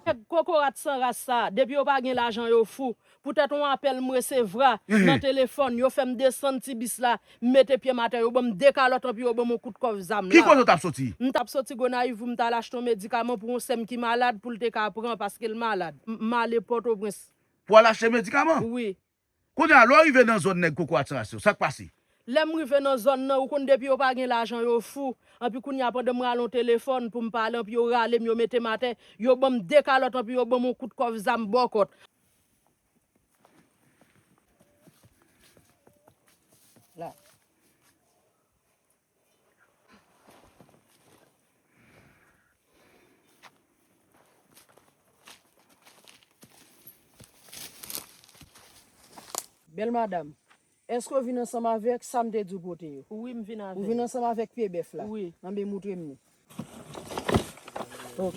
Nèg kokorat san ras sa a, depi yo pa gen lajan yo fou. Poutèt on apèl m resevra nan telefòn, yo fè m desann ti bis la, m mete pye m atè, yo ban m 2 kalòt anpi yo ban m on kout kòf zam la. M t ap soti Gonayiv pou m t al achte on medikaman pou on sè m ki malad pou l te ka pran paske l malad. M ale Pòtoprens. Pou al achte medikaman? Wi. Kounye a, lè w rive nan zòn nèg kokorat san ras yo, sa k pase? Lè m rive nan zòn nan, ou konn depi yo pa gen lajan yo fou. Anpi kounye a pandan m rale yon telefòn pou m pale anpi yo rale m, yo mete m atè, yo ban m de kalòt anpi yo ban m yon kout kòf zam bòkòt. Bèl madam, èske ou vin ansanm avèk sa m te di ou pote yo? Wi, m vin avè l. Ou vin ansanm avèk pye bèf la? Wi. Anben, moutre m ni. Ok.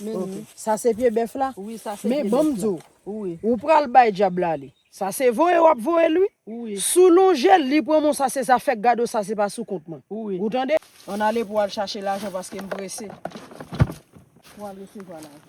Menni. Sa se pye bèf la? Wi, sa se pye bèf la. Men banm di w. Wi. Ou pral bay dyab la li. Sa se voye w ap voye l wi. Wi. Si w lonje l, li pran men w sa se zafè gad w sa se pa sou kont mwen. Wi. Ou tande? Ann ale pou w al chache lajan paske m prese. Pou w al resevwa lajan.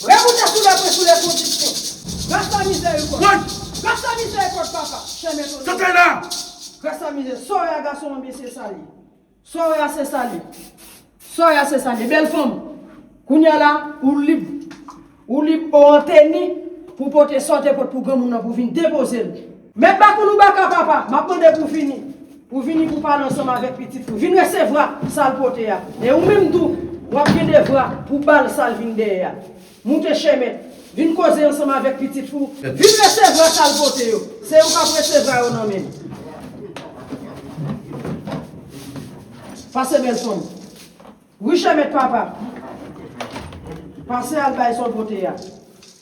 Re moute sou le pwen sou le kondisyon. Gras la mize u kont. Gras la mize e kont papa. Chèmen tonè. Tantay la. Gras la mize. Sa w wè a gason an byen se sa l ye. Sa w wè a se sa l ye. Sa w wè a se sa l ye. Bèl fanm. Kounye a la ou lib. Ou lib ou an teni pou w pote sa w te pot pou granmoun nan pou w vin depoze l. Mèt Bakouloubaka, papa, m ap mande pou w vini. Ou vini pou w pale ansanm avèk pitit ou. Vin resevwa sa l pote a. E ou menm tou, w ap gen devwa pou w ba l sa l vin dèyè a. Moute, chè mèt. Vin koze ansanm avèk pitit ou. Vin resevwa sa l pote yo. Se ou k ap resevwa yo nan men l. Pase bèl son m. Wi, chè mèt, papa. Pase al bay sa w pote a.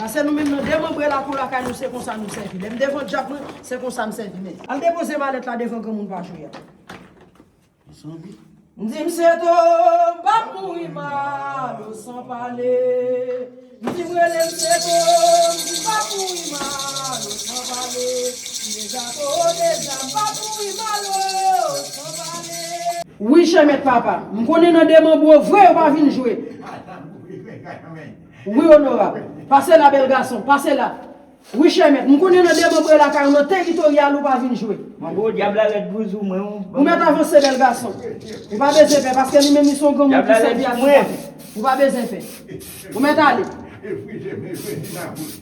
Pase nou menm nan demanbre lakou lakay nou se konsa nou sèvi. Lè m devan djab mwen, se konsa m sèvi men. Al depoze malèt la devan granmoun pa jwe a. M di m se to, m pa p mouri mal o san pale. M di m rele m se to, m di m pa p mouri mal o san pale. M deja to deja, m pa p mouri mal o san pale. Wi chè mèt papa, m konnen nan demanbre vre yo pa vin jwe. Wi onorab. Pase la bel gason. Pase la. Wi chè mèt. M konnen nan demanbre lakay ou nan teritoryal ou pa vin jwe. Manbo dyab la red pou zou mwen ou. Ou met avanse bel gason. Ou pa bezyen pè paske li menm li son granmoun ki sevi a tout patou. Ou pa bezyen pè. Ou met ale.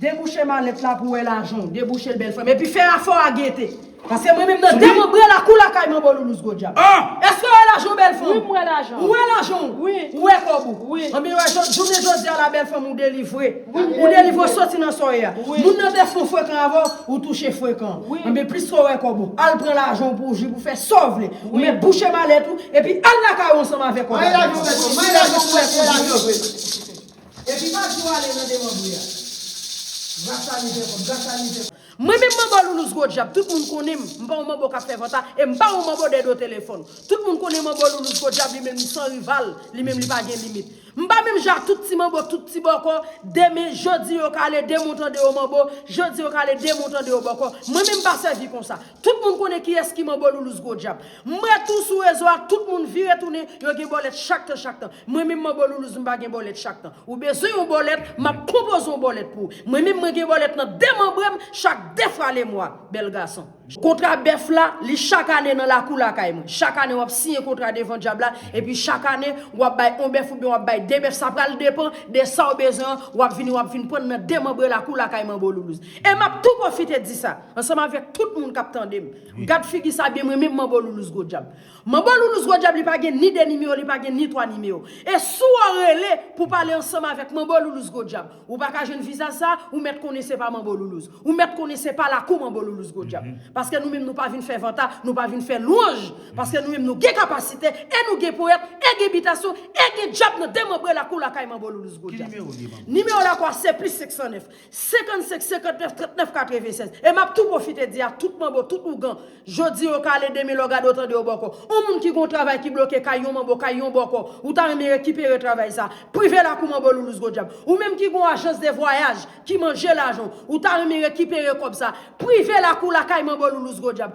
Debouche malèt la pou wè lajanw debouchel bèl frèm epi fè afè w a gete paske mwen menm nan demanbre la kou lakay manbo loulou zgo dyab èske w wè lajanw bèl fanm wi m wè lajan w wè lajanw wi ou wè kòb ou wi anbyen wè jounen jodia la bèl fanm ou delivre wi m delivre ou delivre ou soti nan sa w ye a wi moun nan te fon frekan avèw ou touche frekan wi anbyen plis ke w wè kòb ou al pran lajanw pou w jwi pou w fè sa w vle wi men bouche malèt ou epi al lakay ou ansanm avèk kòb la manye lajan w bèl fanm manye lajan w pou w wè kòb ou wi. Epi Badio ale nan demanbre a. Gras a li fè kòb, gras a li fè. Mwen menm manbo Loulous gwo djab tout moun konnen m, m pa yon manbo kap fè vanta e m pa yon manbo dè do telefòn. Tout moun konnen manbo Loulous gwo djab li menm li san rival, li menm li pa gen limit. M pa menm jan ak tout ti manbo, tout ti bòkò, demen, jodi yo kale, demen w tande yo manbo, jodi yo kale, demen w tande yo bòkò. Mwen menm m pa sèvi konsa. Tout moun konnen kiyès ki manbo loulouse gwo djab. M retou sou rezo a tout moun vire tounen yo gen bòlèt chak tan chak tan. Mwen menm manbo loulouse m pa gen bòlèt chak tan. Ou bezwen yon bòlèt map konpoze yon bòlèt pou ou. Mwen menm mwen gen bòlèt nan demanbre m chak 2 fwa le mwa. Bèl gason. Kontra bèf la, li chak ane nan lakou lakay mwen. Chak ane wap siyen kontra devan djab la epi chak ane wap bay on bèf oubyen wap bay 2 bèf sa pral depan de sa ou bezwen an wap vini wap vin prann nan demanbre lakou lakay manbo loulouse. E map tou pwofite di sa. Ansanm avèk tout moun kap tandem. Gad figi sa byen mrenmen manbo loulouse gwo dyab. Manbo loulouse gwo dyab li pa gen ni 2 nimewo li pa gen ni 3 nimewo. E sou ou rele pou pale ansanm avèk manbo loulouse gwo dyab. Ou pa ka jwenn vizaj sa ou mèt konnen se pa manbo loulouse. Ou mèt konnen se pa lakou manbo loulouse gwo dyab. Paske nou menm nou pa vin fè vanta nou pa vin fè lwanj. Paske nou menm nou gen kapasite e nou gen powèt e gen bitasyon e gen dyab nan demanbre lakou lakay manbo loulouse gwo dyab. Nimewo lakou a se plis 509. 55 59 39 96 E m ap tou pwofite di a tout manbo, tout ougan, Jodi yo kale demen lò gade yo tande yo bòkò On moun ki gen yon travay ki bloke kay yon manbo, kay yon bòkò Ou ta renmen rekipere travay sa a Prive lakou manbo Loulous Godyab Ou menm ki gen yon ajans de vwayaj ki manje lajan w Ou ta renmen rekipere kòb sa a Prive lakou lakay manbo Loulous Godyab